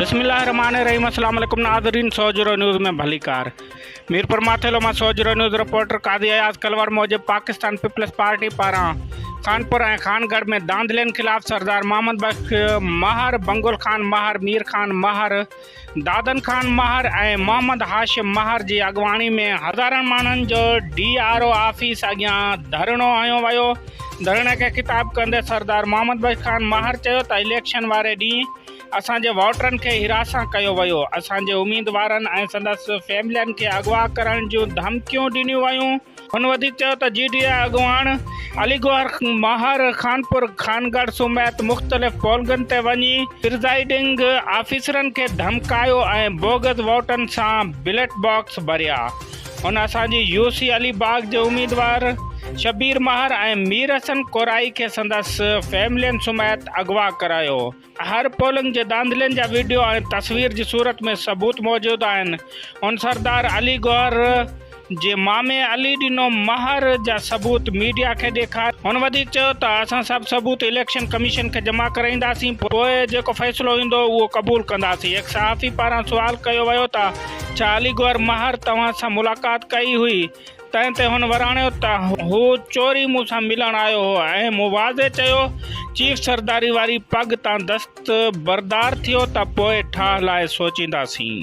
بسم الله الرحمن الرحيم السلام عليڪم ناظرين سوجرو نيوز ۾ ڀلي ڪار ميرپور ماٿيلو مان سوجرو نيوز رپورٽر قاضي اياز کلوار موجب پاڪستان پيپلز پارٽي پاران خانپور ۽ خان گڙھ ۾ داندلين خلاف سردار محمد بخش ماهر بنگل خان ماهر مير خان ماهر دادن خان مهر ۽ محمد هاشم مهر جي اڳواڻي ۾ هزارن ماڻهن جو ڊي آر او آفيس اڳيان ڌرڻو هنيو ويو. ڌرڻي کي خطاب ڪندي سردار محمد بخش خان مهر چيو ته اليڪشن واري ڏينهن اسان جي ووٽرن کي حراسان ڪيو ويو، اسان جي اميدوارن ۽ سندس فيملين کي اغوا ڪرڻ جون ڌمڪيون ڏنيون ويون، هن وڌيڪ چيو ته جي ڊي اي اڳواڻ علي گوهر ماهر خانپور خانگڙھ سميت مختلف پولگن تي وڃي پرزائيڊنگ آفيسرن کي ڌمڪايو ۽ بوگس ووٽن سان بيلٽ باڪس ڀريا، هن اسان جي يو سي علي باغ جي اميدوار شبير ماهر ۽ مير حسن ڪورائي کي سندس فيملين سميت اغوا ڪرايو. هر پولنگ جي ڌانڌلين جا ويڊيو ۽ تصوير جي صورت ۾ ثبوت موجود آهن، هن سردار علي گوهر جي مامي علي ڏنو مهر جا ثبوت ميڊيا کي ڏيکاريا، هن وڌيڪ چيو ته اسان سڀ ثبوت اليڪشن ڪميشن کي جمع ڪرائينداسين پوء جيڪو فيصلو ايندو اهو قبول ڪنداسين، هڪ صحافي پاران سوال ڪيو ويو ته ڇا علي گوهر مهر توهان سان ملاقات ڪئي هئي؟ تنهن تي هن وراڻيو ته هو چوري مون سان ملڻ آيو هو ۽ مون واضح چيو، چيف سرداري واري پڳ تان دستبردار ٿيو ته پوء ٺاهه لاء سوچينداسين.